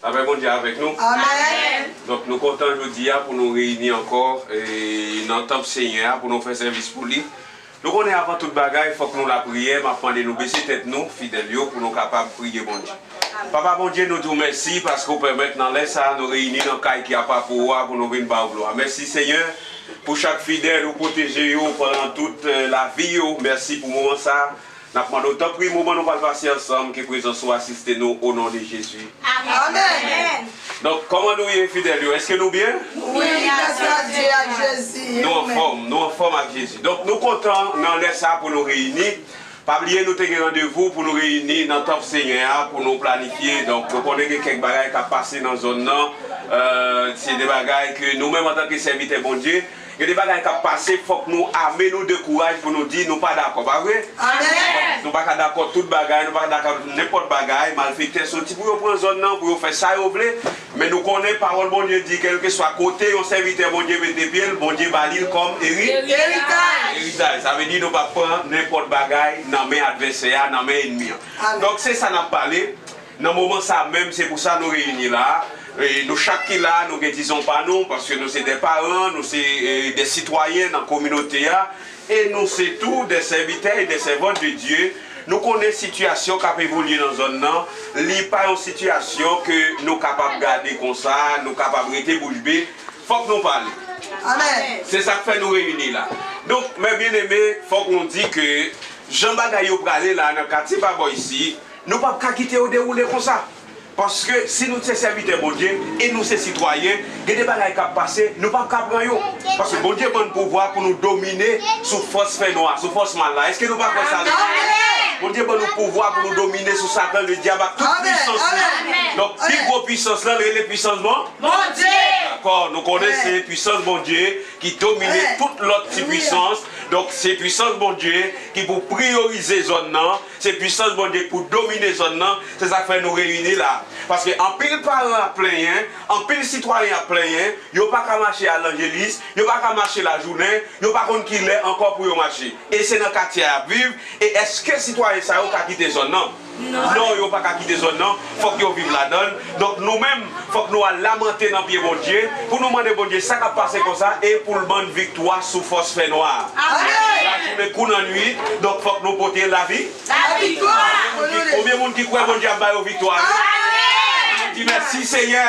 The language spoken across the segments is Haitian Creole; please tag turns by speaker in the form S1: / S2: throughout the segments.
S1: Lapè Bondye avèk nou. Amen! Donk
S2: nou kontan
S1: jodi a pou nou reyini ankò nan tanp Senyè a pou nou fè sèvis pou li. Nou konnen avan tout bagay fòk nou lapriyè, m ap mande nou bese tèt nou, fidèl yo, pou nou kapab priye Bondye. Papa Bondye, nou di w mèsi paske w pèmèt nan lè sa a nou reyini nan kay ki apa pou ou a pou nou vin ba w glwa. Mèsi Senyè pou chak fidèl ou pwoteje yo pandan tout lavi yo. Mèsi pou moman sa a. N ap mande w tanpri moman nou pral pase ansanm ke prezans ou asiste nou o non de Jezi. Amen.
S2: Donk, kòman
S1: nou ye fidèl yo? Èske nou byen? Wi, gras
S2: a Dye ak Jezi. E ou menm? Nou anfòm, nou anfòm
S1: ak Jezi. Donk, nou kontan nan lè sa a pou nou reyini. Pa bliye nou te gen randevou pou nou reyini nan tanp Senyè a pou nou planifye. Donk, mwen konnen gen kèk bagay k ap pase nan zòn nan. Se de bagay ke nou menm antanke sèvitè Bondye, gen de bagay k ap pase, fòk nou ame nou de kouraj pou nou di nou pa dakò. Pa vre? Nou
S2: pa ka
S1: dakò tout bagay, nou pa ka dakò nenpòt bagay. Malfektè soti pou yo pran zòn nan, pou yo fè sa yo vle. Men nou konnen pawòl Bondye di kèlkeswa kote yon sèvitè Bondye mete pye l, Bondye ba li l kòm eritaj. Sa vle di nou pap pran nenpòt bagay nan men advèsè a, nan men enmi an. Donk se sa n ap pale nan moman sa a menm, se pou sa nou reyini la a. Nou chak ki la a nou gen dizon pa nou, paske nou se de paran, nou se de sitwayen nan kominote a. E nou se tou dè sèvitè e dè sèvant de Dye, nou konnen sitiyasyon kap evolye nan zòn nan, li pa yon sitiyasyon ke nou kapab gade konsa, nou kapab rete bouch be, fòk nou pale. Se
S2: sak fè nou
S1: reyini la. Donk, mè byeneme, fòk nou di ke jan bagay yo prale la nan katye Pabò isi, nou pap ka kite yo dewoule konsa. Paske si nou se sèvitè Bondye e nou se sitwayen, gen de bagay k ap pase nou pap ka pran yo. Paske Bondye ban n pouvwa pou nou domine sou fòs fènwa, sou fòs mal la. Èske nou pa kwè sa lè sa? Bondye ban nou pouvwa pou nou domine sou Satan Ledyab ak tout pwisans li. Donk, pi gwo pwisans lan rele pwisans Bondye. Dakò, nou konnen se pwisans Bondye ki domine tout lòt ti pwisans. Donk, se pwisans Bondye ki pou priyorize zòn nan Se pwisans Bondye pou domine zòn nan, se sa k fè nou reyini la a. Paske anpil paran ap plenyen, anpil sitwayen ap plenyen, yo pa ka mache al Lanjelis, yo pa ka mache lajounen, yo pa konn ki lè ankò pou yo mache. E se nan katye a y ap viv, e èske sitwayen sa yo ka kite zòn nan? Non, yo pa ka kite zòn nan, Fòk yo viv ladan l. Donk, nou menm, fòk nou al lamante nan pye Bondye, pou nou mande Bondye sa k ap pase konsa e pou l ban n viktwa sou fòs fènwa a. Lajounen kou lannuit, donk fòk nou pote lavi.
S2: Konbyen moun
S1: ki kwè Bondye ap ba yo viktwa yo? Annou di, Mèsi, Senyè!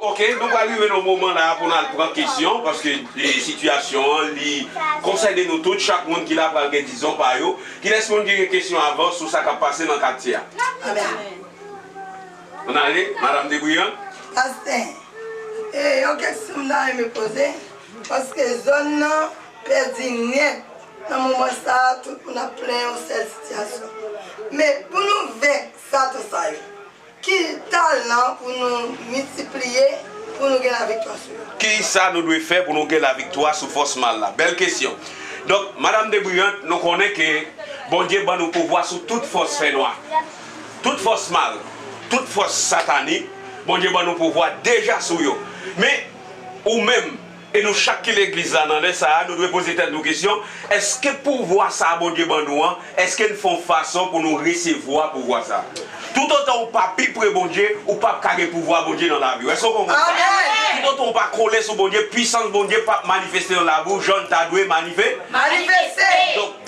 S1: Ok nou pral rive nan moman la pou nal pran kesyon paske sitiyasyon an li konsène nou tout chak moun ki la pral gen dizon pa yo kilès moun ki gen kesyon avan sou sa kap pase nan katye a. An ale madam Debrian. Pastè,
S2: e yon keksyon m ta renmen poze, paske zòn nan pèdi nèt nan moman sa tout moun ap plen yon sèl sitiyasyon. Men pou nou venk satan sa yo, ki talan pou nou miltipliye pou nou gen laviktwa sou yo? Kisa nou dwe fè
S1: pou nou gen laviktwa sou fòs mal la? Bèl kesyon. Donk madam Debrian, nou konnen ke Bondye ban nou pouvwa sou tout fòs fènwa. Tout fòs mal, tout fòs satanik, Bondye ban nou pouvwa deja sou yo. Men, ou menm, e nou chak ki legliz la nan lè sa a, nou dwe poze tèt nou kesyon, èske pouvwa sa a Bondye ban nou an, èske n fè yon fason pou nou resevwa pouvwa sa a? Toutotan ou pa pi pre Bondye, ou p ap ka gen pouvwa Bondye nan lavi w. Èske w konprann sa? Toutotan ou pa kole sou Bondye, pwisans Bondye p ap manifeste nan lavi w jan l ta dwe manifeste.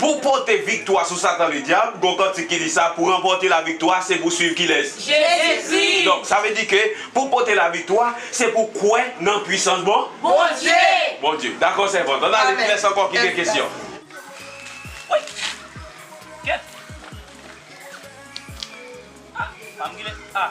S1: Pou pote viktwa sou Satan Ledyab, gon kantik ki di sa, Pou ranpòte laviktwa, se pou suiv kilès? Jezikri! Donk,
S3: sa vle di ke
S1: pou pote laviktwa, se pou kwè nan pwisans bon? Bondye!
S3: Bondye. Dakò
S1: sèvant. Ann ale, kilès ankò ki gen kesyon?
S4: Wouyy! Kèt! Ah! Pa m gile! Ah!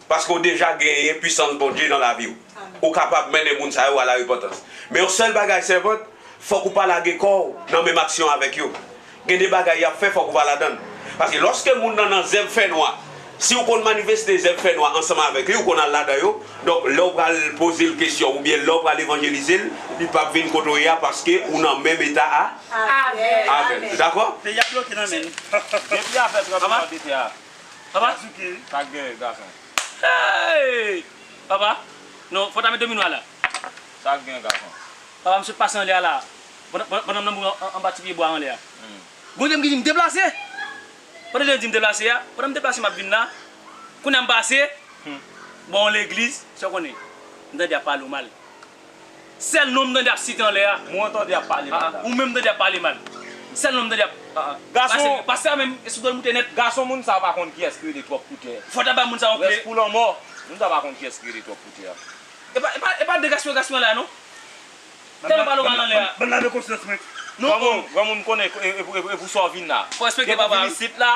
S1: Paske w deja genyen pwisans Bondye nan lavi w, ou kapab mennen moun sa yo a larepantans. Men yon sèl bagay sèvant, fòk ou pa lage kò w nan menm aksyon avèk yo. Gen de bagay y ap fè fòk ou pa ladan l. Paske lòske moun nan nan zèv fènwa, si w konn manifeste zèv fènwa ansanm avèk li, ou konn al ladan yo, donk lè w pral poze l kesyon oubyen lè w pral evanjelize l, li p ap vin kote w ye a paske ou nan menm eta avè l. Nou dakò?
S4: Papa. Sak souke. Sak dèyè gason. Eeyy. Papa. Non fòta met domino a la. Sak gen gason. Papa m sot pase anlè a la. Pandan m nan mouri anba ti pye bwa anlè a. Bondye m ki di m deplase. Pandan jan l di m deplase a. Pandan m deplase m ap vin la. Kounya m pase. Bò yon legliz. Sa w konnen. M tande y ap pale w mal. Sèl non m tande ap site anlè a. Mwen tande ap pale mal la. Ou menm m tande ap pale mal. Sèl non m tande ap. Gason. Pastè a menm sou do l moute nèt. Gason moun sa pa konn kiyès ki rele twòp koutè. Fò w ta bay moun sa yon kle. Rès pou lanmò. Moun sa pa konn kiyès ki rele twòp koutè a. E pa de gaspiyon gaspiyon la non. Tèlman pale w mal anlè a. Bann lave konsyans mwen. Granmoun konnen e pou sa w vin la. Fò w respekte papa w. Depi w vin isit la,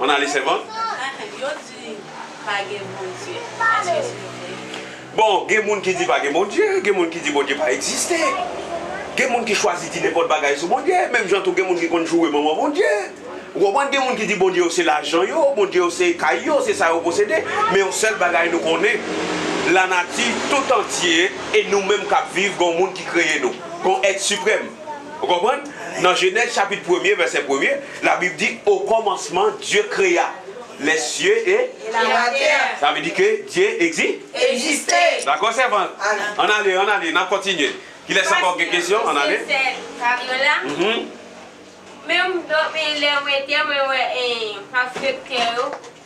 S1: On ale sèvant. Yo di pa gen bondye eske se vre? Bon gen moun ki di pa gen bondye, gen moun ki di bondye pa egziste, gen moun ki chwazi di nenpòt bagay sou bondye, menm jan tou gen moun ki konn joure manman bondye, ou konprann gen moun ki di bondye yo se lajan yo, bondye yo se kay yo, se sa yo posede, men yon sèl bagay nou konnen lanati tout antye e nou menm kap viv gon moun ki kreye nou, gon èt siprèm ou konprann nan jenèz chapit premye vèsè premye. La Bib di, O kòmansman, Dye kreya lè sye e. E la latè.
S2: Sa vle di ke Dye
S1: egzi. Egziste. Dakò sèvant? Ann ale, ann ale, n ap kontinye. Kilès ankò k gen kesyon? Ann ale. Paske sè Fabiola,
S3: menm, menm lè mwen te mwen wè paske kè yo.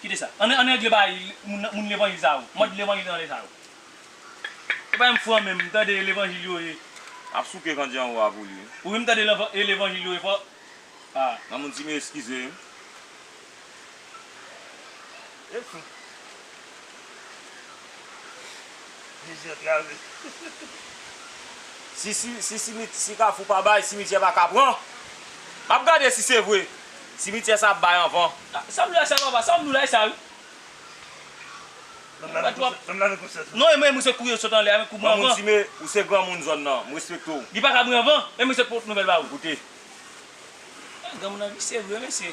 S4: Kite sa. An an regle bagay moun moun levanjil sa yo. Mòd levanjil anlè sa yo. Se pa menm fran menm m tande e levanjil yo ye. Map souke kandji anwo a pou li wi. Ou menm m tande e levanjil yo ye fò ah. Mamoun si m eskize m. E fou. Jezi antrave. Si si si si kafou pa bay simityè pa ka pran. Map gade si se vre. Simityè sa ap bay anvan. Sam la sa papa sam nou la esa wi. Menm la nou konsa tou. Non emen mwen se kou yo sot anlè a men kou mwen anvan. Granmoun sime ou se granmoun zòn nan m respekte w. Li paka mwen anvan e mwen se k pot nouvel ba ou. Koute. Granmoun nan visye vre mesye.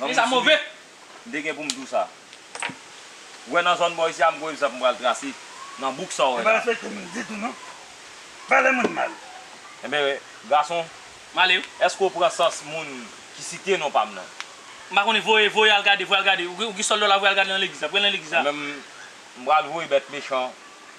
S4: Humm Fi sa move. M te gen pou m di w sa. Ou wè nan zòn bò isi a m konn egzanp m pral trase nan bouk sa w wè la. Li pa respekte moun ditou
S5: non. Pale moun mal. Enben
S4: gason. M ale wi.
S6: Eske w pran sans
S4: moun ki site non pa m nan? M pa konnen voye
S6: voye al gade voye al gade ou gen sòl dòla voye al gade nan legliz la voye nan legliz la. Mwen menm
S4: m pral voye bèt mechan.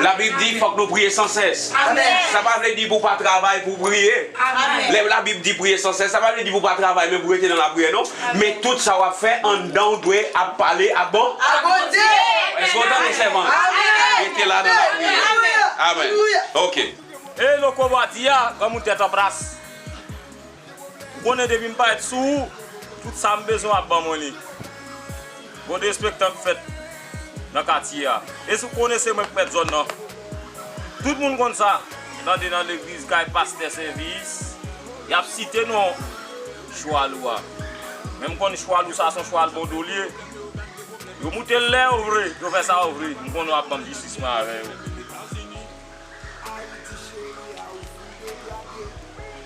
S1: Labib di fòk nou priye san sès. Sa pa vle
S7: di pou w pa
S1: travay pou w priye. Lè Labib
S7: di priye san
S1: sès, sa pa vle di pou w pa travay men pou w rete nan lapriyè non. Men tout sa w ap fè anndan w dwe ap pale ak Bondye.
S2: Èske w tande
S1: sèvant? Rete la
S2: nan lapriyè.
S1: Amen. Ok. Ey
S4: loco bwa di a, banm yon tèt anplas. Ou konnen depi m parèt sou ou, tout sa m bezwen w ap ban mwen li. Bon derespektan k fèt nan katye a. E si w konnen se mwen k mèt zòn nan. Tout moun konn sa. Tande nan legliz kay pastè sèvis, y ap site non chwal ou a. Men m konn chwal ou sa son chwal bondolye. Yo moute l lè yo vle, yo fè sa yo vle. M konnen w ap ban m jistis mwen avè yo. Ayiti cheri a ou fout degradé.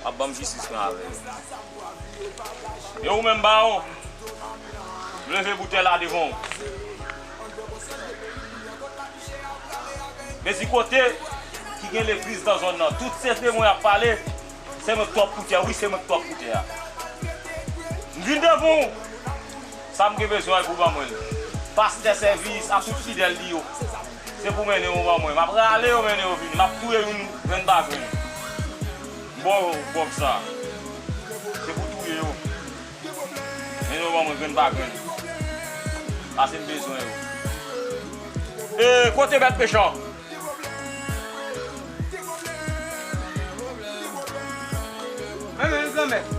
S4: Wap banm jistis mwen avè yo. E ou menm bawon, m leve boutèy la devan w. Mezi kote ki gen legliz nan zòn nan, tout sekrè mwen ap pale, se mwen k twòp pou tè, wi se mwen k twòp pou tè a. M vin devan w, sa m gen bezwen pou ban mwen l. Pastè sèvis ak tout fidèl li yo. Se pou mennen yo ban mwen. M ap rale yo mennen yo vini. M ap touye youn grenn pa grenn. M ba w bòb sa. Se pou w touye yo. Mennen yo ban mwen grenn pa grenn. Pase m bezwen yo. E kote bèt mechan?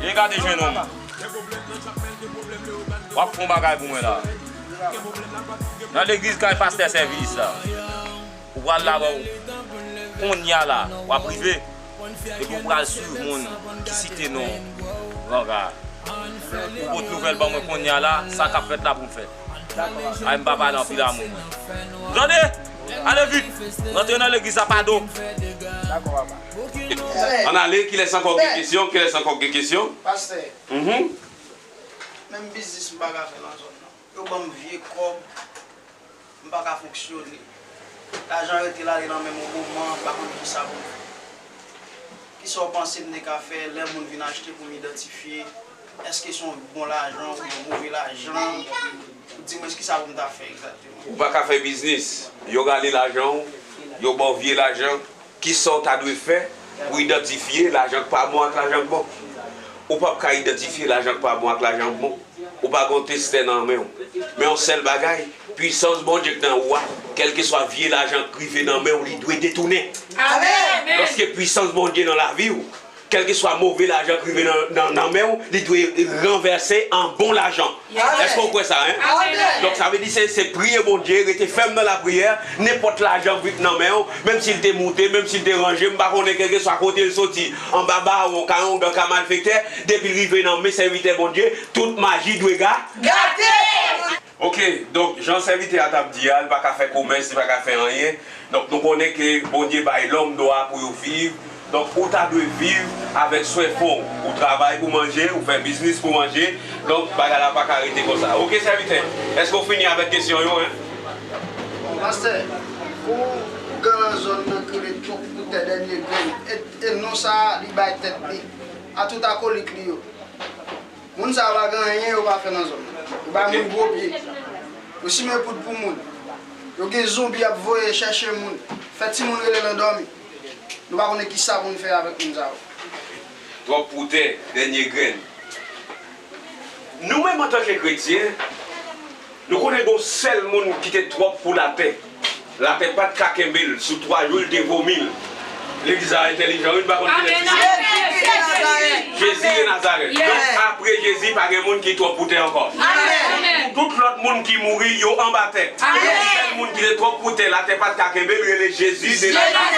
S4: E gade jenòm. W ap fè yon bagay pou mwen la. Nan legliz kay pastè sèvis la ou pral la bò kounya la wap rive epi ou pral swiv moun ki site non Ranga a ou pot nouvèl ban mwen kounya la sa kap fèt la poul fèt ay m pa pale anpil amou mwen ou tande ale vit rantre nan legliz la pa do. Dakò papa.
S1: Ann ale kilès ankò k gen kesyon kilès ankò k gen kesyon? Pastè.
S8: Mph. Menm biznis m pa ka fè nan zòn nan. Yo ban m vye kòb, m pa ka fonksyone. Lajan rete l ale nan men m yon moman, m pa konn ki sa pou m fè. Ki sa w panse m te ka fè lè moun vin achte pou m idantifye èske se yon bon lajan oubyen yon move lajan? Dimwens ki sa pou m ta fè egzakteman? Ou pa ka fè biznis,
S1: yo rale lajan w, yo ba w vye lajan. Kisa w ta dwe fè pou idantifye lajan k pa bon ak lajan k bon? Ou pap ka idantifye lajan k pa bon ak lajan k bon. Ou pa gen yon testè nan men w. Men yon sèl bagay, pwisans Bondye k nan ou a, kèlkeswa vye lajan k rive nan men w li dwe detounen. Lòske
S2: pwisans
S1: Bondye nan lavi w, Kèlkeswa move lajan k rive nan men w, li dwe ranvèse an bon lajan. Èske w kwè sa? Donk, sa vle di
S2: se
S1: priye Bondye, rete fèm nan lapriyè, nenpòt lajan k vin nan men w, menm si l te moute, menm si l te ranje, m pa konnen kèlkeswa kote l soti, anba bawon, karongan, ka malfektè, depi l rive nan men sèvitè Bondye, tout maji dwe gate! Ok, donk jan sèvitè a t ap di a, li pa ka fè komès, li pa ka fè anyen, donk nou konnen ke Bondye bay lòm dwa pou yo viv, donk ou ta dwe viv avèk swen fon w, ou travay pou manje, ou fè biznis pou manje, donk bagay la pa ka rete konsa. Ok sèvitè, èske ou fini avèk kesyon yo hein? Bon
S8: pastè, pou ougan lan zòn nan k rele twòp pou tè dènye grenn, e non sa a li bay tèt li, a tout akolik li yo. Moun sa yo pa gen anyen yo pa fè nan zòn nan. Yo bay moun gwo pye. Yo simen poud pou moun. Yo gen zonbi yap voye chèche moun. Fè timoun rele nan dòmi. Nou pa konnen kisa pou nou fè avèk moun sa yo. Twòp
S1: pou tè, dènye grenn. Nou menm antanke kretyen. Nou konnen gon sèl moun ki te twòp pou latè, latè pat ka kenbel sou 3 jou l te vomil, legliz la entèlijan wi n pa konn kilè ti sèl Jezi de Nazarèt donk apre Jezi pa gen moun ki twòp pou tè ankò pou tout lòt moun ki mouri yo anba tè gon sèl moun ki te twòp pou tè latè pat ka kenbel rele Jezi de Nazarèt.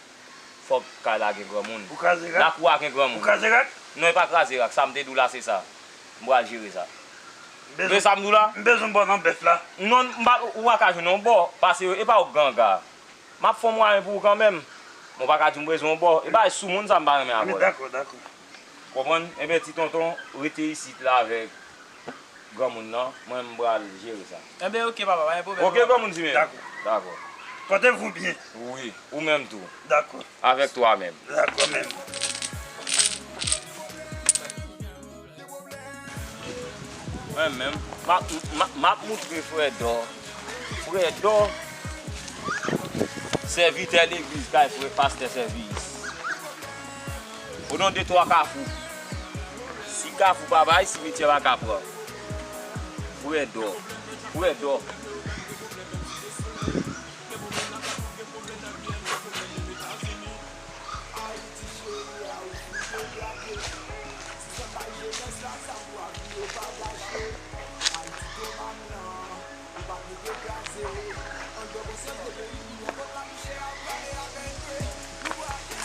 S4: Fòk kay la gen granmoun. Pou kraze rak? Lakou a gen
S5: granmoun. Pou
S4: kraze rak? Non e pa
S5: kraze
S4: rak, sa m te di w la se sa. M pral jere sa. M bezwen sa m di w la? M bezwen bò nan bèf la.
S5: Non, m pa, ou pa
S4: ka jwenn yon bò. Pase yo, e pa w ganga. M ap fè yon mwayen pou ou kanmenm. Men w pa ka di w m bezwen yon bò. E bagay soumoun sa m pa renmen avè w la. Dakò, dakò.
S5: Konprann?
S4: Enben ti tonton rete isit la avèk granmoun nan, mwen m pral jere sa. Enben ok papa, pa gen
S9: pwoblèm non papa. Ok granmoun di men. Dakò.
S4: Dakò.
S5: Pòte vou byen. Wi, ou menm
S4: tou. Dakò. Avèk
S5: twa menm.
S4: Dakò menm. Mwen menm, m ap moutre Frèdò, Frèdò, sèvitè legliz kay pastè Sèvis. O non de twa kafou. Si kafou pa bay, simityè pa ka pran. Frè dò. Frè dò.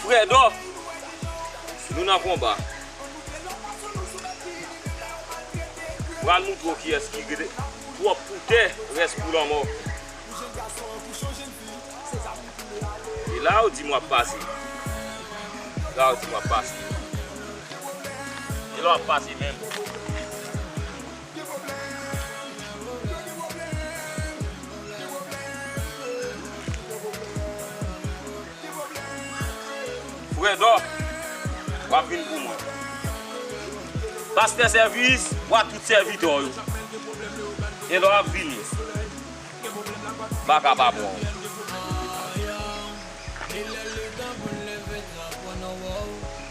S4: Fredo! Nou nan konba. Pral moutre w kiyès ki gen twòp pou tè, rès pou lanmò. E la ou di m w ap pase. La ou di m w ap pase. E la w ap pase menm. Fredo wap vin pou mwen. Pastè sèvis pou a tout sèvitè w yo. E lè wap vini baka pa bon.